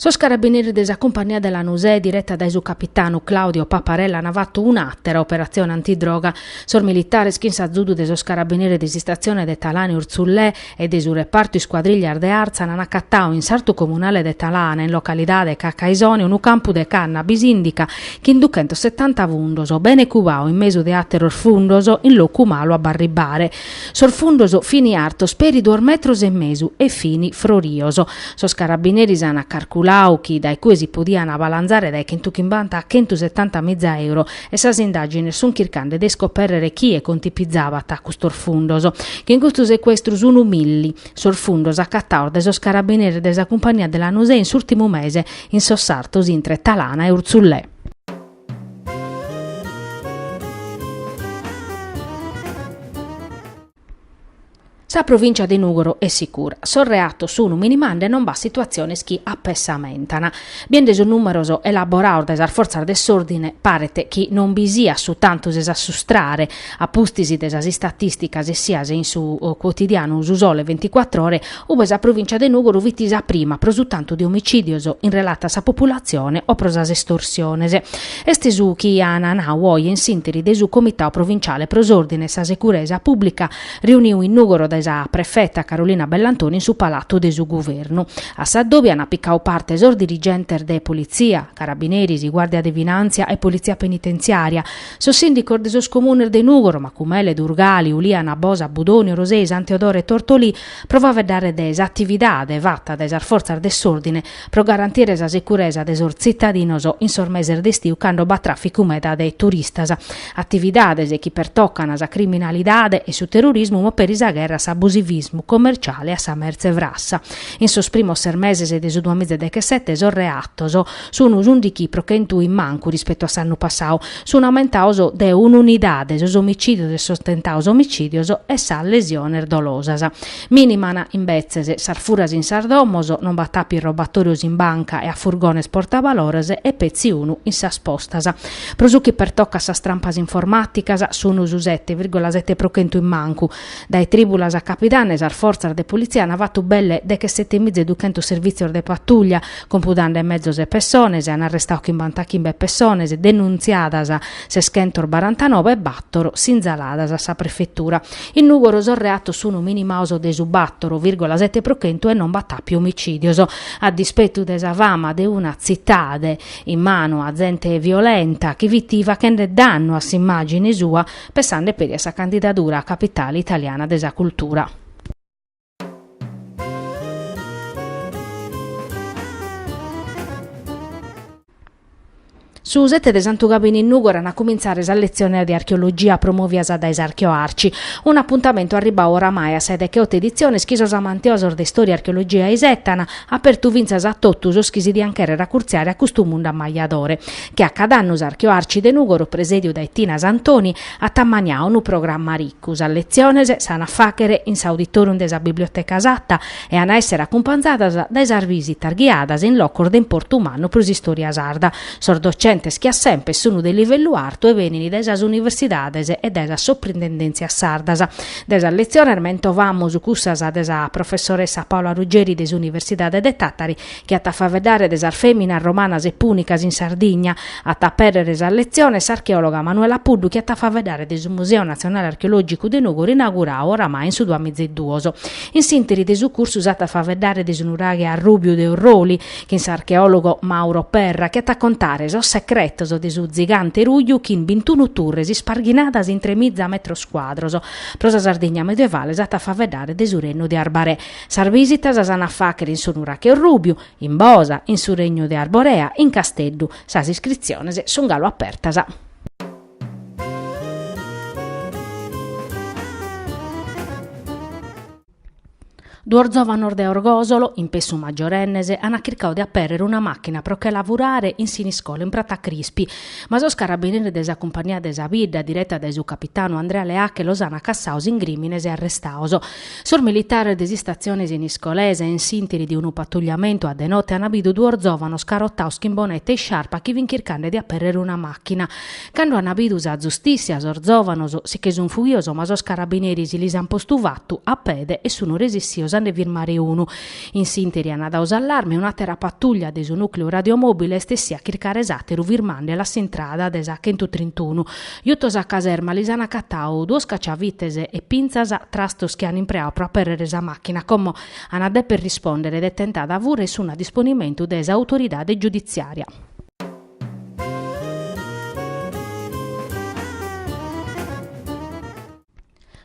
Sos carabineris de sa cumpania de Lanusè, direta dae su capitanu Claudio Paparella, an fatu un'àtera operatzione antidroga. Sos militares, chin s'azudu de sos carabineris de s'istatzione de Talana e Urzullè, e de su repartu Iscuadrillas de Àrtzana an acatau in sartu comunale de Talana, in localidade Cacaisoni, unu campu de cannabis indica chin duchentos setanta fundos, bene cubau in mesu de ateros fundos, in locu malu a b'arribbare. Sos fundos fini artos peri duos metros e mesu e fini frorios. Sos carabineris an carculau chi dae cue si podian balanzare dae chentuchimbanta a chentusetanta miza euro, e sas indàgines sunt chircande de iscopèrrere chie contipizabat custos fundos, chin custu secuestru sunt milli sos fundos acataos dae sos carabineris de sa cumpagnia de Lanusè in s'ùrtimu mese in sos sartos intre Talana e Urzullè. Sa provìncia de Nùgoro est sicura. Sos reatos sunu minimande non b'at situatziones chi apessamentan. Biende sos nùmeros elaboraos dae sas fortzas de s'òrdine paret chi non bi siat su tantu de s'assustrare a pustis de sas istatìsticas essias in su cuotidianu Su Sole Venticuattr'Ore ube sa provìncia de Nùgoro fit sa prima pro su tantu de omicìdios in relata a sa populatzione o pro sas estorsiones. Est su chi an nau oe in s'ìnteri de su Comitau Provinciale pro s'Òrdine e sa Securesa Pùblica reuniu in Nùgoro dae sa prefeta Carolina Bellantoni in su Palatu de su Guvernu, a s'adòbiu an picau parte sos dirigentes de Politzia, Carabineris, Guàrdia de Finàntzia e Politzia Penitenziària, sos sìndicos de sos comunes de Nùgoro, Macumele, Durgali, Uliana, Bosa, Budoni, Orosei, San Teodoro e Tortolì, pro faveddare de s'atividade fata dae sas fortzas de s'òrdine pro garantire sa securesa de sos tzitadinos in sos meses de istiu cando b'at tràficu meda de turistas, atividades chi pertocan sa criminalidade e su terrorismu ma peri sa gherra a s'abusivismu commerciale a sa mertze frassa. In sos primos ses meses de su duamiza e dechesete sos reatos. Sun s'ùndichi pro chentu in mancu rispetu a s'annu passau. Sun aumentaos de un'unidade sos omicìdios e sos tentaos omicìdios e sas lesiones dolosas. Mìniman, imbetzes, sas furas in sas domos, non b'at àpiu robatòrios in banca e a furgones portabalores e petzi unu in sas postas. Pro su chi pertocat sas trampas informàticas, sun su sete virgola sete pro chentu in mancu, Dae trìbulas a capidanne sas fortzas de politzia ant fatu belle deche sete miza e duchentos servìtzios de patùllia, compudande mezos e pessones e ant arrestadu chimbantachimbe pessones denuntziadas ses chentos barantanobe e bàtoro sinzaladas a sa prefetura. In Nùgoro sos reatos sunu minimados de su bator vìrgola sete pro chentu e non b'at àpiu omicìdios. A dispetu de sa fama de una tzitade in manu a zente violenta chi fit fachende dannu a s'imàgine sua, Pessande peri a sa candidadura a Capitale italiana de sa cultura. Su sete de Santu Gabini in Nùgoro an a cumintzare sas letziones de archeologia promovias dae s'Archeoarci, un'apuntamentu arribbadu oramai a sa 'e deche oto editziones chi sos amantiosos de istòria e archeologia aisetan, apertu fintzas a totu sos chi si diant chèrrere acurtziare a custu mundu ammajadore. che a cad'annu s'Archeoarci de Nùgoro presèdiu dae Tina Santoni at ammaniadu unu programma ricu, sas letziones s'an a fàghere in s'auditòrium de sa Biblioteca Satta e an a èssere acumpanzadas dae sas visitas ghiadas in locos de importu mannu pro s'istòria sarda. Sos docentes che a semper sunt de livellu artu e benint dae sas universidades e dae sas soprintendèntzias sardas. De sas letziones mentovamus cussas de sa professoressa Paola Ruggeri de s'Universidade de Tàtari, chi at a faveddare de sas fèminas romanas e pùnicas in Sardigna. At a apèrrere sas letziones s'archeòloga Manuela Puddu chi at a faveddare de su Museu Natzionale Archeològicu de Nùgoro inauguradu oramai in su duamizaeduos. In s'ìnteri de su cursu s'at a faveddare de su nuraghe Arrùbiu de Orroli chin s'archeòlogo Mauro Perra chi at a contare sos secretos de su tzigante ruju chin bintunu turres isparghinadas in tremiza metros cuadros. Pro sa Sardigna medievale s'at a faveddare de su rennu de Arbarè. Sas bìsitas s'an a fàghere in su Nurache Orrùbiu, in Bosa, in su Regnu de Arborea, in Casteddu. Sas iscritziones sun galu apertas. Duos zòvanos de Orgòsolo, in pessu maggiorennes, ant chircau de apèrrere una màchina pro che la furare in Siniscola, in Prata Crispi. Ma sos carabineris de sa Cumpagnia de sa bidda, direta dae su capitanu Andrea Leacche, los ant cassaos in grìmines e arrestaos. Sos militares de s'istatzione siniscolesa, in s'interi de unu patugliamentu a de note ana bidu duos zovanos carotaos chin bonete e isciarpa chi fin chircande de aperrere una machina. Cando ana bidu sa zustissia sos zovanos si che sun fughios ma sos carabineris si lis an postu fattu a pede e sunu resissios a nde firmare unu. In s'interi ana dau s'allarme un'atera patuglia de su nucleu radiomobile est essia a chircare s'ateru firmandelu a s'intrada de sa chentutrintunu Jutos a caserma lis an acatadu duos caciavites e pintzas, trastos chi an impreadu pro aperrere sa màchina, como an a deper rispòndere de tentada fura e sun a disponimentu de s'autoridade giuditziària.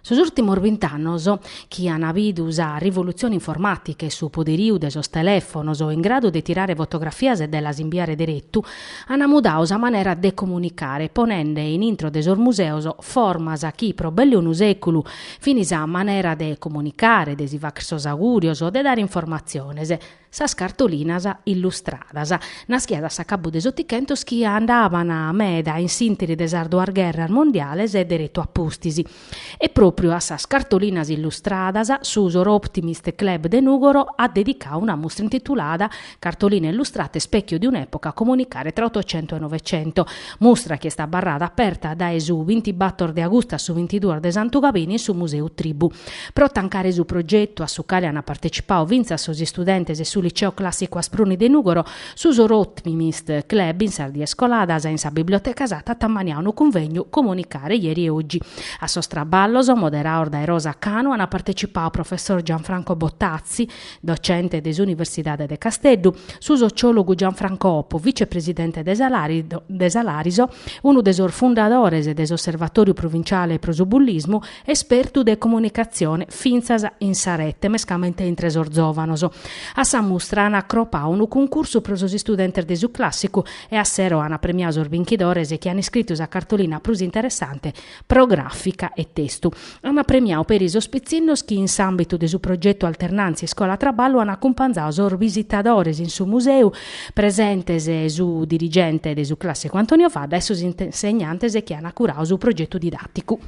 Sos ùrtimos bint'annos, chi an bidu sa rivolutzione informàtica e su poderiu de sos telèfonos in gradu de tirare fotografias e de las imbiare deretu, an mudadu sa manera de comunicare, ponende in intro de sos museos formas chi pro belle unu sèculu fin sa manera de comunicare, de si fàghere sos agùrios, de dare informatziones, Sas cartolinas illustradas, naschidas a s'acabu de s'Otichentos chi andaban meda in s'interi de sas duas gherras mondiales e deretu a pustis. E pròpriu a sas cartolinas illustradas su Soroptimist Club de Nùgoro at dedicadu una mustra intitulada Cartoline illustrate specchio di un'epoca, comunicare tra Ottocento e Novecento, mustra chi est abarrada aperta dae su bintibator de agustu a su bintiduos de Santugabini in su Museu Tribù. Pro tancare su progetu, a su cale ant partecipadu fintzas sos istudentes 'e su Liceo Clàssicu Aspruni de Nùgoro, su Soroptimist Club in sas dies coladas in sa Biblioteca Satta at ammaniadu unu cunvegnu Comunicare ieri e oggi. A sos traballos, moderados dae Rosa Canu, ant partecipadu professor Gianfranco Bottazzi, docente de s'Universidade de Casteddu, su sociòlogu Gianfranco Oppo, vicepresidente de sa Lariso, unu de sos fundadores de s'Osservatòriu provinciale pro su bullismu, Espertu de comunicatzione fintzas in sa rete, mescamente intre sos zòvanos. A sa mustra ant acropadu unu cuncursu pro sos istudentes de su clàssicu e a sero ant premiadu sos binchidores chi ant iscritu sa cartolina prus interessante pro gràfica e testu. Ant premiadu peri sos pitzinnos chi in s'àmbitu de su progetu Alternàntzia iscola-traballu ant acumpanzadu sos bisitadores in su museu, presentes su dirigente de su clàssicu Antonio Fadda e sos insegnantes chi ant curadu su progetu didàticu.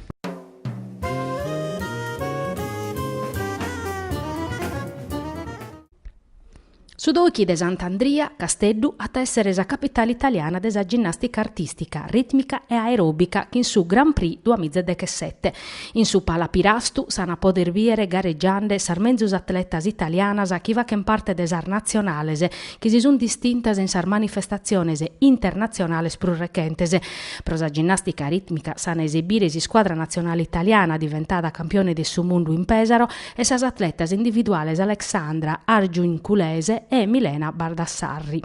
Su Dochi de Sant'Andria, Casteddu, at a èssere sa capitale italiana de sa ginnàstica artìstica, rìtmica e aeròbica chin su Grand Prix duamìgia dechesete. In su Pala Pirastu s'an a pòdere bìdere garegiande sas menzus atletas italianas chi fachent parte de sas natzionales chi si sunt distintas in sas manifestatziones internatzionales prus rechentes, Pro sa ginnàstica rìtmica s'an a esebire s'iscuadra natzionale italiana diventada campione de su mundu in Pèsaro e sas atletas individuales Alexandra Agiurgiuculese e Milena Baldassarri.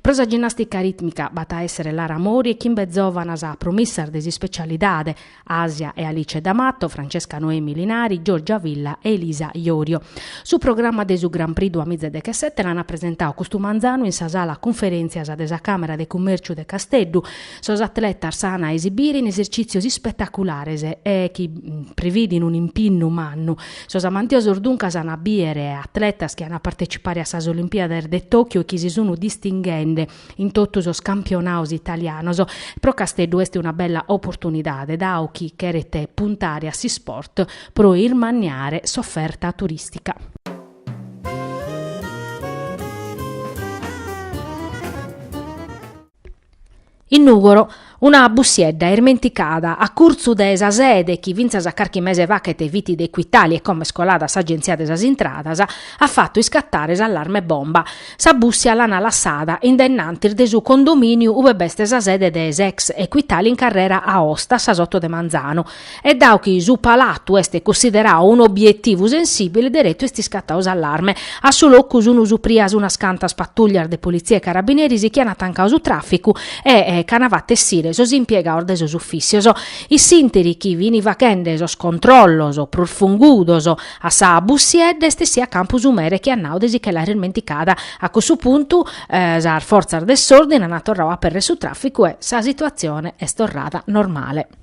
Pro sa ginnàstica rìtmica b'at a èssere Lara Mori e chimbe zòvanas promissas de s'ispecialidade, Asia e Alice D'Amato, Francesca Noemi Linari, Giorgia Villa e Elisa Iorio. Su programma de su Grand Prix duamìgia e dechesete l'ant presentadu custu manzanu in sa sala cunferèntzias de sa Càmera de Cummèrciu de Casteddu. Sos atletas s'ant a esibire in esercìtzios ispetaculares e chi prividin un'impinnu mannu. Sos amantiosos duncas ant a bìdere atletas chi ant a partecipare a sas Olimpiades de Tòchio e chi si sunt distinghende. in totu sos campionaos italianos, pro Casteddu est una bella oportunidade dao chi cheret puntare a s'isport pro irmanniare s'oferta turìstica. In Nùgoro Una bussiedda irmenticada, a curtzu de sa sede, chi fintzas a carchi mese fachet fit de Equitalia e como est colada a s'agenzia de sas intradas, at fatu iscattare s'allarme bomba. Sa bussia l'ana lassada in dennantis de su condominiu ube b'est sa sede de s'ex Equitalia in carrera Aosta, a sas oto de manzanu. E dau chi su palatu est cussiderau un'obietivu sensibile, deretu est iscatau s'allarme. A su locu sunu suprias unas cantas patullias de politzia e carabineris chi ana tancau su traficu e ch'ana fatu essire sos impiegaos de sos ufìcios. In s'ìnteri chi fini fachende sos controllos prus fungudos a sa bussiedda est essiu a campu su mere chi at nau de si che l'àere irmenticada. A cussu puntu sas fortzas de s'ordini ana torrau a apèrrere su traficu e sa situatzione est torrada normale.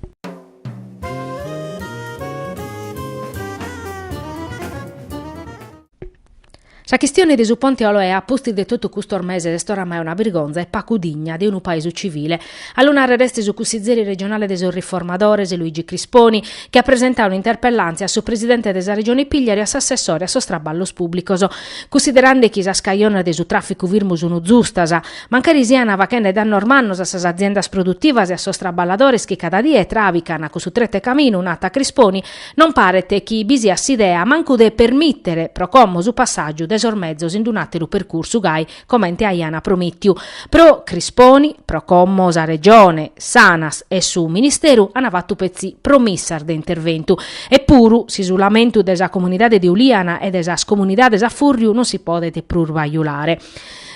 Sa chistione de su Ponte Oloè a pustis de totu custos meses est oramai una birgonza e pacu digna de unu paesu civile. A lu nàrrere est su cussizeri regionale de sos Riformadores, Luigi Crisponi, chi at presentadu un'interpellàntzia a su presidente de sa Regione Pigliaru e a s'assessore a sos traballos pùblicos. Cussiderande chi sas cajones de su tràficu firmu sunt zustas, Mancari siana fachende dannos mannos a sas aziendas produtivas e a sos traballadores chi cada die travican cussu tretu 'e caminu, nat Crisponi, non paret chi bi siat s'idea mancu de permìtere pro como su passàgiu de sos mezos in un'àteru percursu gai comente aian promìtiu. Pro Crisponi, pro como sa Regione, s'Anas e su Ministeru an fatu petzi promissas de interventu. Epuru, s'isulamentu de sa comunidade de Uliana e de sas comunidades a fùrriu non si podet prus bajulare.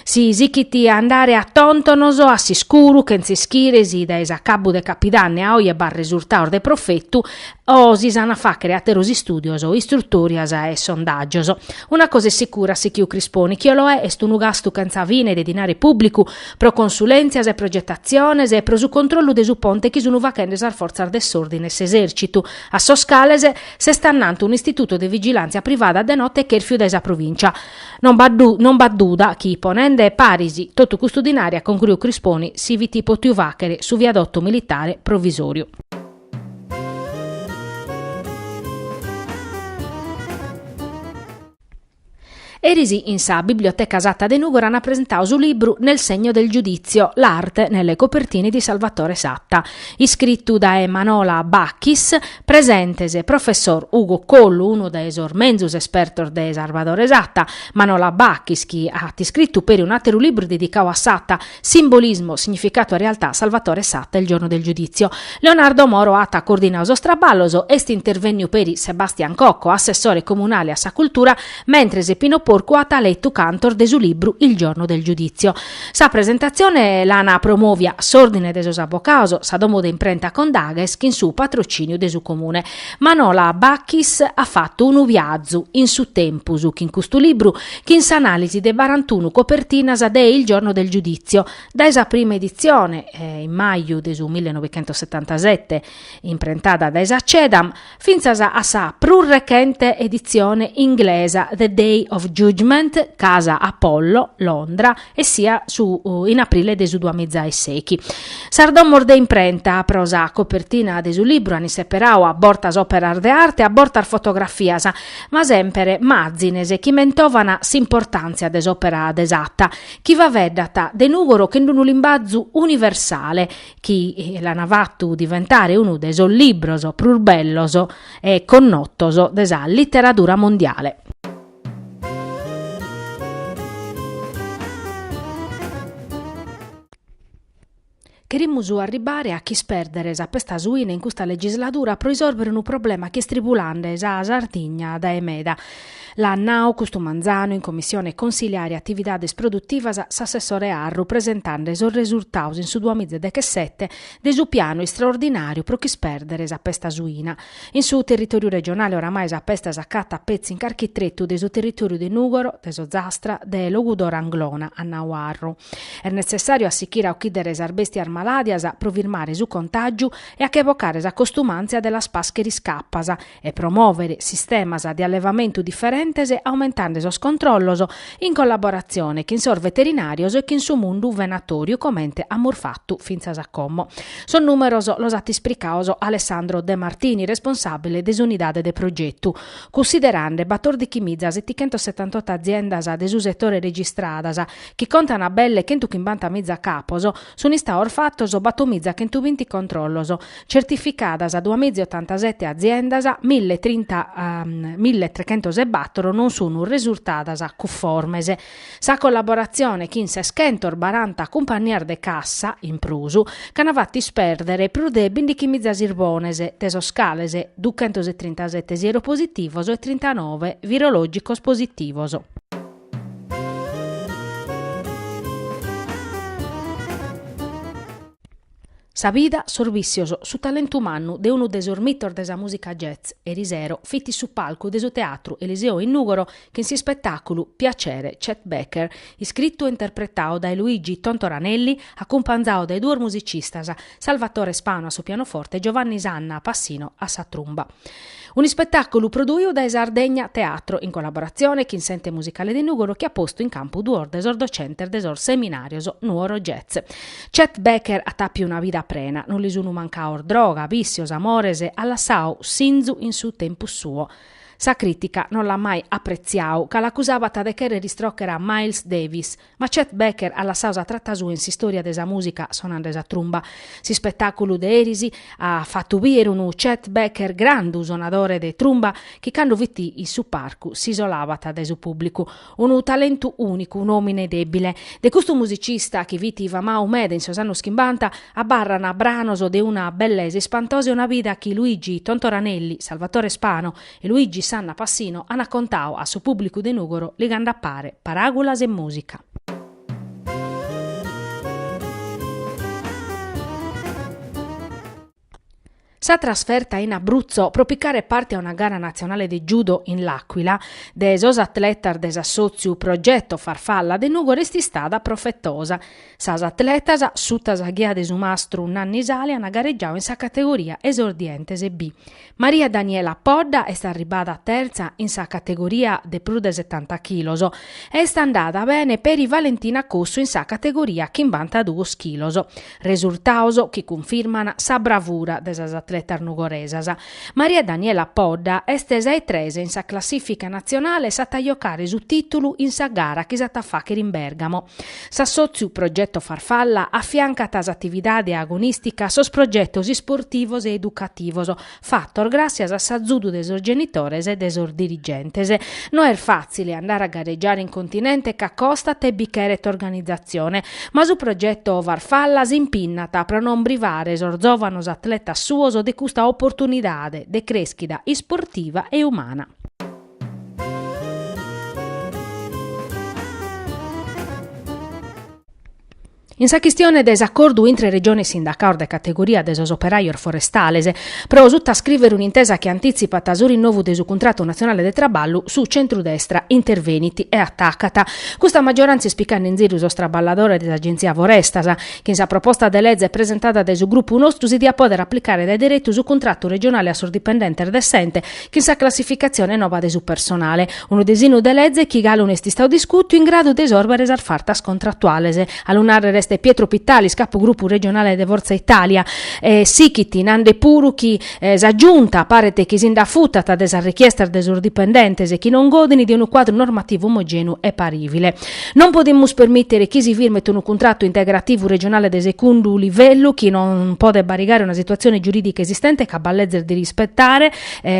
Si sichit a andare a tontonos, a s'iscuru, chentza ischire si dae s'acabu de capidanne a oje b'at resurtaos de profetu o si s'an a fàchere àteros istùdios, istrutòrias e sondàgios. Una cosa est sicura, at sichiu Crisponi, chi Oloè est unu gastu chentza fine de dinare pùblicu pro consulèntzias e progetatziones e pro su controllu de su ponte chi sunt fachende sas fortzas de s'òrdine e s'esèrcitu, a sos cales s'est annantu un'istitutu de vigilàntzia privada de note chèrfiu dae sa provìncia. Non b'at du, non b'at duda chi, ponende paris totu custu dinari, at concruiu Crisponi, si fit potiu fàchere su viadotu militare provisòriu. Eris in sa Biblioteca Satta de Nùgoro an presentau su libru Nel segno del giudizio, l'arte nelle copertine di Salvatore Satta, iscritu dae Manola Bacchis, Presentes, Professor Ugo Collu, unu de sos menzus espertos de Sarvadore Satta, Manola Bacchis chi at iscritu peri un'àteru libru dedicau a Satta, Simbolismo, significato e realtà, Salvatore Satta, Il giorno del giudizio. Leonardo Moro at coordinau sos traballos, est intervènniu peri Sebastian Cocco, assessore comunale a sa cultura, mentres Pino Porcu at letu cantos de su libru Il giorno del giudizio. Sa presentatzione l'an promòvia s'Òrdine de sos Avocaos, sa domo de imprenta Condaghes chin su patrocìniu de su Comune. Manola Bacchis at fatu unu viazu in su tempus chin custu libru, chin s'anàlisi de barantunu copertinas de Il giorno del giudizio, dae sa prima editzione, in maju de su millenovecentosetantasette, imprentada dae sa Cedam, fintzas a sa prus rechente editzione inglesa The Day of Judgment, Casa Apollo, Londra, essia su in aprile de su duamizaesechi. Sas domos de imprenta pro sa copertina de su libru an isseperau a bortas òperas de arte, a bortas fotografias, ma semper mazines chi mentovan s'importàntzia de s'òpera de Satta, chi faveddat de Nùgoro chin d'unu limbazu universale, chi l'an fatu diventare unu de sos libros prus bellos e connotos de sa literadura mondiale. Cherimus arribare a ch'ispèrdere sa pesta suina in custa legisladura pro risòrvere unu problema chi est tribulande sa Sardigna dae meda. L'at nau custu manzanu in commissione consiliare atividades produtivas s'assessore Arru presentande sos resurtaos in su duamiza dechesete de su pianu istraordinàriu pro ch'ispèrdere sa pesta suina. In su territòriu regionale oramai sa pesta s'acatat petzi in carchi tretu de su territòriu de Nùgoro, de s'Ozastra, de Logudoro Anglona, at nau Arru. Est netzessàriu a sichire a ochìdere sas bèstias malàdias pro firmare su contàgiu e a che bocare sa costumàntzia de las pàschere iscapas, e promòvere sistemas de allevamentu diferentes aumentande sos controllos in collaboratzione chin sos veterinàrios e chin su mundu venatòriu comente amus fatu fintzas a como. Sos nùmeros los at ispricaos Alessandro De Martini, responsàbile de s'unidade de progetu. Cussiderande batòrdichimiza setichentos setantotto aziendas de su setore registradas, chi contan belle chentuchimbantamiza capos, Sun istaos fatos batomiza chentu binti controllos, certificadas duamiza otantasete aziendas, mille trinta mille trechentos e bator non sun resurtadas cufformes. Sa collaboratzione chin ses chentos baranta cumpannias de cassa in prus ch'at fatu isperdere prus de bindichimiza sirbones, de sos cales duchentos e trintasete sieropositivos e trintanove virologicos positivos. Sa vida, sos vìssios, su talentu mannu de unu de sos mitos de sa mùsica jazz, erisero fit in su palcu de su Teatru Eliseo in Nùgoro chin s'ispetàculu Piacere, Chet Baker, iscritu e interpretadu dae Luigi Tontoranelli, acumpanzadu dae duos musicistas, Salvatore Spano a su pianoforte e Giovanni Sanna Passino a sa trumba. Un'ispetàculu prodùiu dae Sardegna Teatro, in collaboratzione chin s'Ente Musicale de Nùgoro chi at postu in campu duos de sos docentes de sos seminàrios Nuoro Jazz. Chet Baker at àpiu una vida prena, non li sunu mancados droga, vìssios, amores, at lassadu sinzu in su tempus suo. Sa crìtica non l'at mai apretziadu, ca l'acusabat de chèrrere istròchere a Miles Davis, Ma Chet Baker at lassadu sa trata sua in s'istòria de sa mùsica sonande sa trumba. S'ispetàculu de eris at fatu bìdere unu Chet Baker grandu sonadore de trumba, chi cando fit in su parcu s'isolabat dae su pùblicu. Unu talentu ùnicu, un'òmine dèbile. De custu musicista, chi fit famadu meda in sos annos chimbanta, abarrant branos de una bellesa ispantosa e una vida chi Luigi Tontoranelli, Salvatore Spano, e Luigi Sanna Passino ant contadu a su pùblicu de Nùgoro ligande a pare paràgulas e mùsica. Sa trasferta in Abruzzo pro picare parte a una gara natzionale de judo in L'Aquila de sos atletas de s'assòtziu Progetto Farfalla de Nùgoro est istada profetosa. Sas atletas, suta sa ghia de su mastru Nanni Sale ant garegiadu in sa categoria Esordientes B. Maria Daniela Podda est arribada tertza in sa categoria de prus de setanta chilos e est andada bene peri Valentina Cossu in sa categoria chimbantaduos chilos. Resurtaos chi cunfirman sa bravura de sas atletas nugoresas. Maria Daniela Podda est sa 'e tres in sa classìfica natzionale s'at a jocare su tìtulu in sa gara chi s'at a fàchere in Bèrgamo. S'assòtziu Progetto Farfalla afiancat a s'atividade agonìstica sos progetos isportivos e educativos fatos gràtzias a s'azudu de sos genitores e de sos dirigentes. No est fàtzile andare a garegiare in continente ca costat e bi cheret organizatzione, ma su Progetto Farfalla s'impinnat pro non privare sos zòvanos atletas suos de custa oportunidade de crèschida isportiva e umana. In sa chistione de s'acordu intre Regione e sindacados de categoria de sos operajos forestales, pro sutascrìvere un'intesa chi antitzipat su rinnovu de su cuntratu natzionale de traballu, su centrudestra intervenit e atacat: custa maggiorantzia est picande in ziru sos traballadores de s'Agenzia Forestas, chin sa proposta de leze presentada dae su grupu nostru si diat pòdere aplicare dae deretu su cuntratu regionale a sos dipendentes de s'ente chin sa classificatzione noba de su personale, unu desinu de leze chi galu no est istau discutiu in gradu de isòrbere sas fartas contratuales. A lu nàrrere est Pietro Pittalis, capu grupu regionale de Fortza Italia. Sichit nande puru chi sa Giunta paret chi si nd'afutat de sas richiestas de sos dipendentes chi non godin de unu cuadru normativu omogèneu e parìvile. Non podimus permìtere chi si firmet unu cuntratu integrativu regionale de segundu livellu chi non podet barigare una situatzione giurìdica esistente ca b'at lezes de rispetare,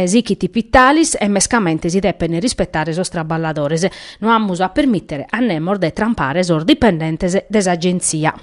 sichit Pittalis, e mescamente si depen rispetare sos traballadores. No amus a permìtere a nemos de trampare sos dipendentes de s'Agenzia.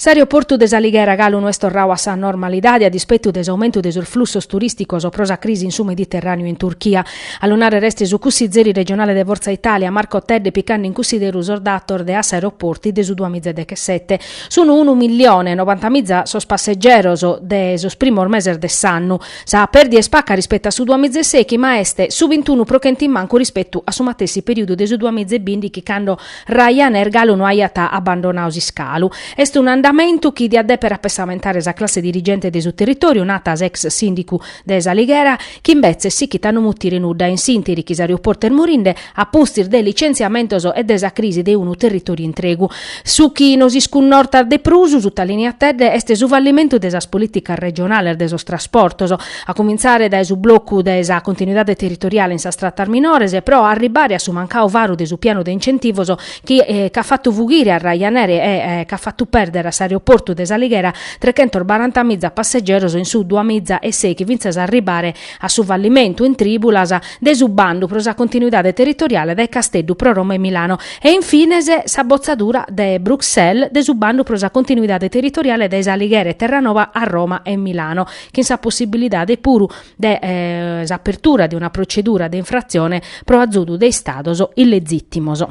S'aeroportu de S'Alighera galu no est torrau a sa normalidade a dispetu de s'aumentu de sos flussos turìsticos pro sa crisi in su Mediterràneu e in Turchia. A lu narrere est su cussizeri regionale de Forza Italia, Marco Tedde picande in cussideru sos datos de Assaeroporti de su duamiza e dechesete. Sunt unu milione e nobantamiza sos passegeros de sos primos meses de s'annu. Sa perdia est paca rispettu a su duamiza e seichi ma est su bintunu pro chentu in mancu rispettu a su matessi periudu de su duamiza e bindichi cando Ryanair galu no aiat abandonau s'iscalu. Est un'andamentu chi diat depere apessamentare sa classe dirigente de su territoriu, narat s'ex sindicu de S'Alighera, chi imbetzes sichit a no mutire nudda in s'interi chi s'aeroportu est morinde, a pustis de licentziamentos e de sa crisi de unu territòriu intregu. Su chi nos iscunnortat de prus, sutalineat Tedde, est su fallimentu de sas polìticas regionales de sos trasportos, a cumintzare dae su blocu de sa continuidade territoriale in sas tratas minores, pro arribare a su mancau varu de su pianu de incentivos chi ch'at fatu fughire a Ryanair e ch'at fatu pèrdere a s'aeroportu de s'Alighera trechentos barantamiza passegeros in su duamiza e sèichi fintzas a arribare a su fallimentu, in trìbulas, de su bandu pro sa continuidade territoriale dae Casteddu pro Roma e Milano e, in fines, sa botzadura de Bruxelles de su bandu pro sa continuidade territoriale dae S'Alighera e Terranoba a Roma e Milano, chin sa possibilidade puru de s'apertura de una procedura de infratzione pro azudu de Istados illegìtimos.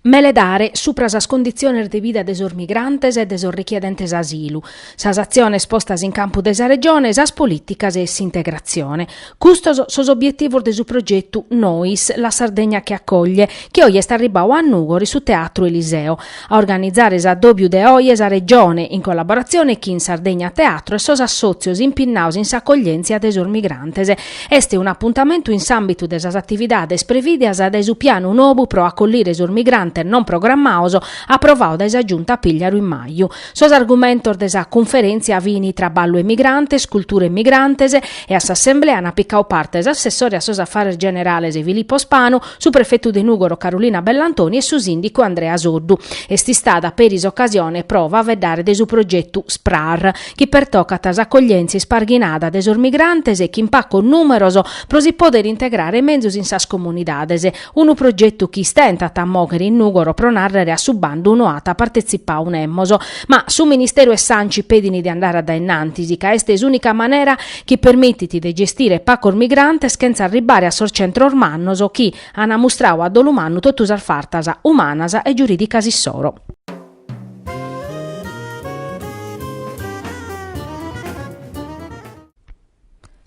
Meledare supra sas conditziones de vida de sos migrantes e de sos richiedentes asilu, sas atziones postas in campu dae sa Regione, sas polìticas e s'integratzione. Custos sos obietivos de su progetu Nois, la Sardegna che accoglie, chi oje est arribau a Nùgoro in su Teatru Eliseo. a organizare s'addòbiu de oje sa Regione in collaboratzione chin Sardegna Teatro e sos assòtzios impinnados in s'acoglièntzia de sos migrantes. Est un'apuntamentu in s'àmbitu de sas atividades prevìdias dae su pianu nobu pro acollire sos migrantes non programmados aprovadu dae sa Giunta Pigliaru in maju. Sos argumentos de sa cunferèntzia fin Traballu e migrantes, Cultura e migrantes e a s'assemblea ant picadu parte s'assessore a sos Afares Generales Filippo Spanu, su prefetu de Nùgoro Carolina Bellantoni e su sìndicu Andrea Soddu. Est istada peri s'ocasione pro faeddare de su progetu Sprar, chi pertocat s'accoglièntzia isparghinada de sos migrantes e chin pacos nùmeros pro si pòdere integrare menzus in sas comunidades, unu progetu chi istentat a mòghere in Nùgoro pro nàrrere a su bandu no at partetzipadu nemos. Ma su ministeru e s'Anci pedin de andare a dae in antis ca est s'ùnica manera chi permitit de gestire pacos migrantes chentza arribare a sos centros mannos chi an ammustradu a dolu mannu totu sas fartas umanas e giurìdicas issoro.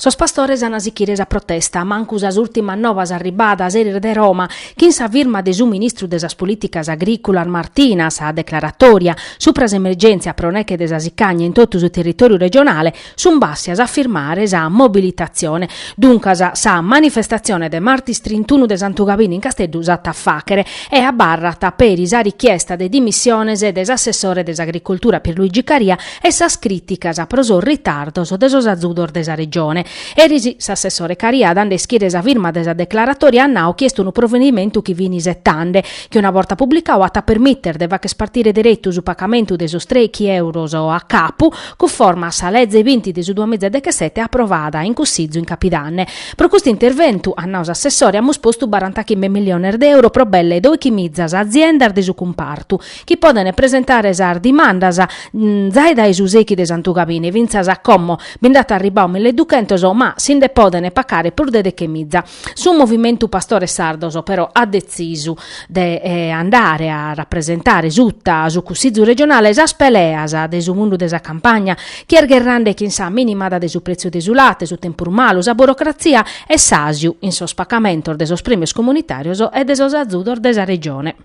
Sos pastores an a sichire sa protesta, mancu sas ùrtimas novas arribadas eris dae Roma, chin sa firma de su ministru de sas Polìticas Agrìculas Martina, sa declaratòria supra s'emergèntzia pro neche de sa sicagna in totu su territòriu regionale, Sunt bàssias a firmare sa mobilitatzione, duncas sa manifestatzione de martis trintunu de Santu Gabine in Casteddu s'at a fàchere e abarrat peri sa richiesta de dimissiones de s'assessore de s'Agricultura Pierluigi Caria e sas crìticas pro sos ritardos de sos azudos de sa Regione. Eris s'assessore Caria dande a ischire sa firma de sa declaratòria at nau chi est unu provedimentu chi fin isetande, chi una borta publicadu at a permìtere de fàchere partire deretu su pacamentu de sos trèichi euros a capu, cunforma a sa leze binti de su duamiza dechesete aprovada in Cussizu in Capidanne. Pro custu interventu, at nau s'assessore, amus postu barantachimbe milliones de euro pro belle doichimizas aziendas de su cumpartu chi podent presentare sas dimandas zai dae su sechi de Santu Gabine fintzas a como bi nd'at arribadu millieduchentos ma si nde podent pacare prus de dechemiza. Su Movimentu Pastores Sardos però at detzisu de andare a rapresentare suta a su Cussizu Regionale sas peleas de su mundu de sa campagna, chi est gherrande chin sa minimada de su pretziu de su late, su tempus malu, sa burocratzia e s'asiu in sos pacamentos de sos premios comunitarios e de sos azudos de sa Regione.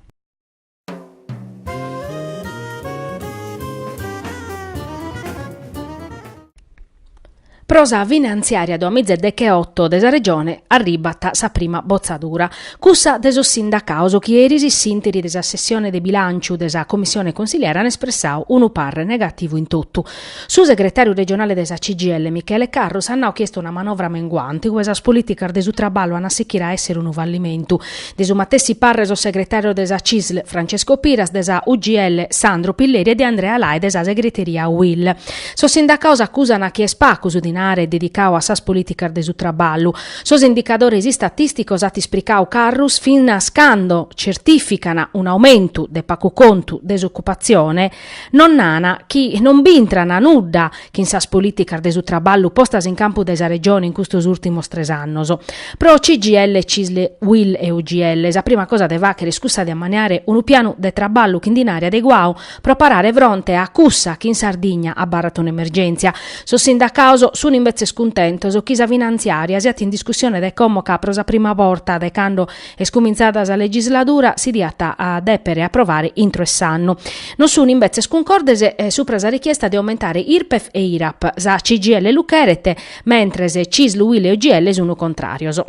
Pro sa finantziària duamiza e decheoto de sa Regione arribat sa prima botzadura, cussa de sos sindacados chi eris s'ìnteri de sa sessione de bilànciu de sa Comissione Consiliare an espressadu unu parre negativu in totu, Su segretàriu regionale de sa CGIL Michele Carrus at nau chi est una manovra menguante ue sas polìticas de su traballu ant a sichire a èssere unu fallimentu. De su matessi pàrrere sos segretàrios de sa CISL Francesco Piras, de sa UGL Sandro Pilleri e de Andrea Lai de sa segreteria UIL. Sos sindacados acusant chi est pagu su dinare dedicadu a sas polìticas de su traballu. Sos indicadores istatìsticos, at ispricadu Carrus, finas cando certìficant un aumentu de pagu contu de s'ocupatzione, non narant chi non b'intrana nudda chin sas polìticas de su traballu postas in campu dae sa Regione in custos ùrtimos tres annos. Pro CGIL, Cisl, Uil e UGL sa prima cosa de fàghere est cussa de ammaniare unu pianu de traballu chin dinare adeguadu pro parare fronte a cussa chi in Sardigna abarrat un'emergèntzia. Sos sindacados sun imbetzes cuntentos chi sa finantziària siat in discussione dae como ca pro sa prima borta dae cando Est cumintzada sa legisladura, si diat a dèpere aprovare intro 'e s'annu. Non sun imbetzes cuncordes supra sa richiesta de aumentare Irpef e Irap. Sa CGIL lu cheret, mentres Cisl, Uil e UGL sun contràrios.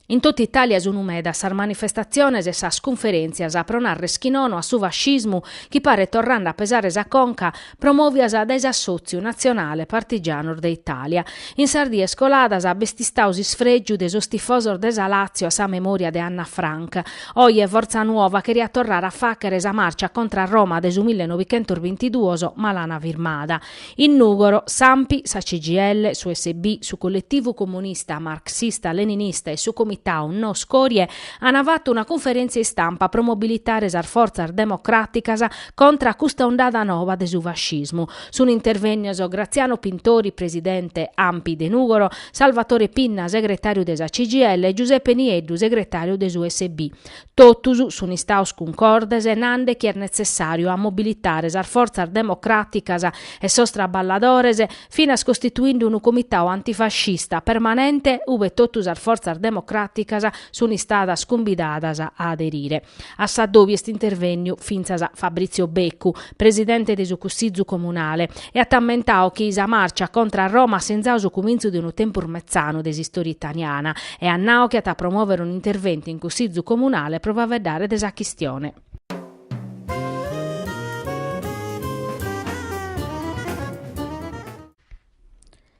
In tota Itàlia sunu medas sas manifestatziones e sas cunferèntzias pro nàrrere chi nono a su fascismu chi paret torrende a pesare sa conca, promòvias dae s'Assòtziu natzionale partigianos de Itàlia. In sas dies coladas b'est istadu s'isfrègiu de sos tifosos de sa Làtzio a sa memòria de Anna Frank. Oje Forza Nuova cheriat torrare a fàghere sa màrcia contra a Roma de su millenovichentos bintiduos, ma l'ana firmada. In Nùgoro, s'Anpi, sa CGIL, su SB, su Colletivu Comunista Marxista-Leninista e su Comitau No Scorie ana fatu una cunferèntzia istampa pro mobilitare sas fortzas democràticas contra a custa ondada noba de su fascismu. Sun intervènnios Graziano Pintori, presidente Anpi de Nùgoro, Salvatore Pinna, segretàriu de sa CGIL e Giuseppe Nieddu, segretàriu de s'USB. Totus sun istaus cuncordes nande chi est netzessàriu a mobilitare sas fortzas democràticas e sos traballadores finas costituinde unu comitau antifascista permanente ube totu sas fortzas democràticas sun istadas cumbidadas a aderire. A s'addobi est intervènniu fintzas Fabrizio Beccu, presidente de su Cussizu Comunale, e at ammentadu chi sa màrcia contra a Roma at sinzadu su cumintzu de unu tempus metzanu de s'istòria italiana e at nadu chi at a promòvere un interventu in Cussizu comunale pro faveddare de sa chistione.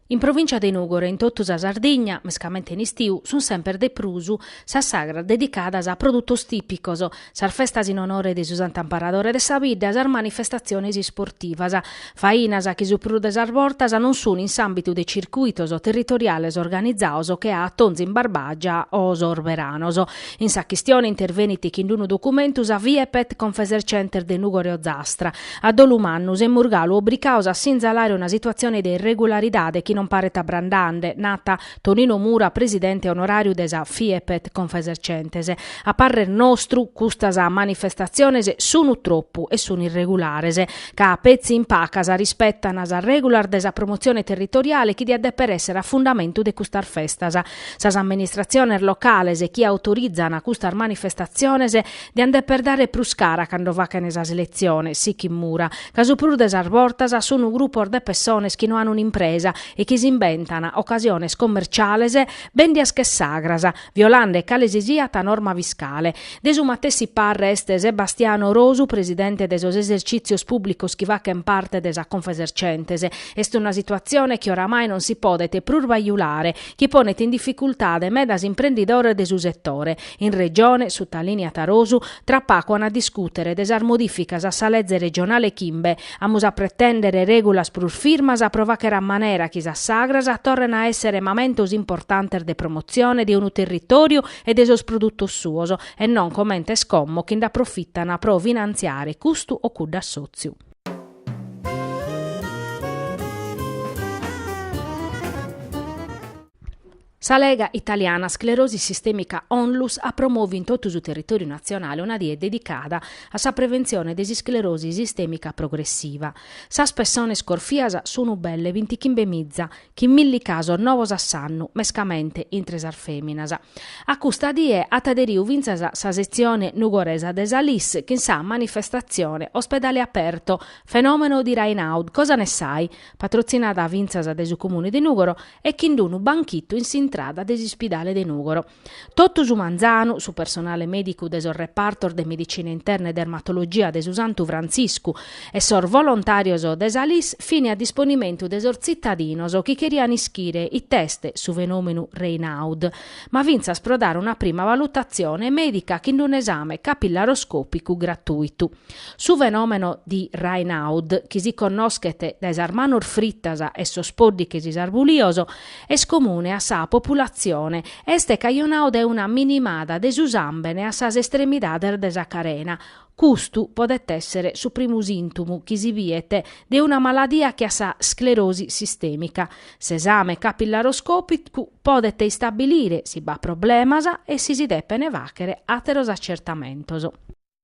In provìncia de Nùgoro e in totu sa Sardigna, mescamente in istiu, sunt semper de prus sas sagras dedicadas a produtos tìpicos, sas festas in onore de su Sant'Amparadore de sa Bidda sas manifestatziones isportivas, fainas chi su prus de sas bortas non sunt in s'àmbitu de circuitos territoriales organizaos che Atonzu in Barbagia o sos beranos. In sa chistione intervenit chin d'unu documentu sa Fiepet Confesercentes de Nùgoro e Ozastra, A dolu mannu semus galu obricados a sinzalare una situatzione de irregularidade chi non paret abrandande, nat Tonino Mura presidente onoràriu de sa Fiepet Confesercentes. A parrer nostru custas manifestatziones sunu tropu e sunu irregulares, ca petzi in pacas rispetan sas règulas de sa promotzione territoriale chi diat deper esser a fundamentu de custas festas. Sas amministratziones locales chi autorizan custas manifestatziones Diant deper dare prus cara cando fachent sas seleziones, sichit Mura, ca su prus de sas bortas sun grupos de pessones chi no an un'impresa e chi s'imbentan ocasiones commerciales bendias che sagras, violande cale si siat norma fiscale. De su matessi parre est Sebastiano Rosu, presidente de sos esercìtzios pùblicos chi fachent parte de sa Confesercentes. Est una situazione chi oramai non si podet prus bajulare, chi ponet in dificultade medas imprendidores de su setore, In Regione, sutalìneat Rosu, tra pacu an a discùtere de sas modìficas a sa leze regionale chimbe. Amus a pretèndere règulas prus firmas pro fàchere a manera chi sas sagras torren a èssere mamentos importantes de promotzione de unu territòriu e de sos produtos suos, e non comente est como chi nd'aprofitana pro finantziare custu o cuddu assòtziu. Sa Lega italiana sclerosi sistèmica Onlus at promoviu in totu su territòriu natzionale una die dedicada a sa preventzione de s'isclerosi sistèmica progressiva. Sas pessones corfias sunt belle bintichimbe miza, chin milli casos novos a s'annu, mescamente intre sas fèminas. A custa die at aderiu fintzas sa setzione nugoresa de sa Liss chin sa manifestatzione Ospedale aperto, fenomeno di Raynaud, cosa ne sai? patrotzinada fintzas dae su Comune de Nùgoro e chin d'unu banchitu in s'intrada de s'uspidale de Nùgoro. Totu su manzanu, su personale mèdicu de sos repartos de medicina interna e dermatologia de su Santu Frantziscu e sos volontàrios de sa Liss fin a disponimentu de sos tzitadinos chi cherian ischire it'est su fenòmenu Raynaud, ma fintzas pro dare una prima valutatzione mèdica chin d'un'esame capillaroscòpicu gratuitu. Su fenòmeno di Raynaud, chi si connoschet dae sas manos fritas e sos pòddighes isarbulios, est comune a sa populatzione e est cajonadu dae una minimada de su sàmbene a sas estremidades de sa carena. Custu podet èssere su primu sìntomu chi si biet de una maladia che a sa sclerosi sistèmica. S'esame capillaroscòpicu podet istabilire si b'at problemas e si si depene fàghere àteros acertamentos.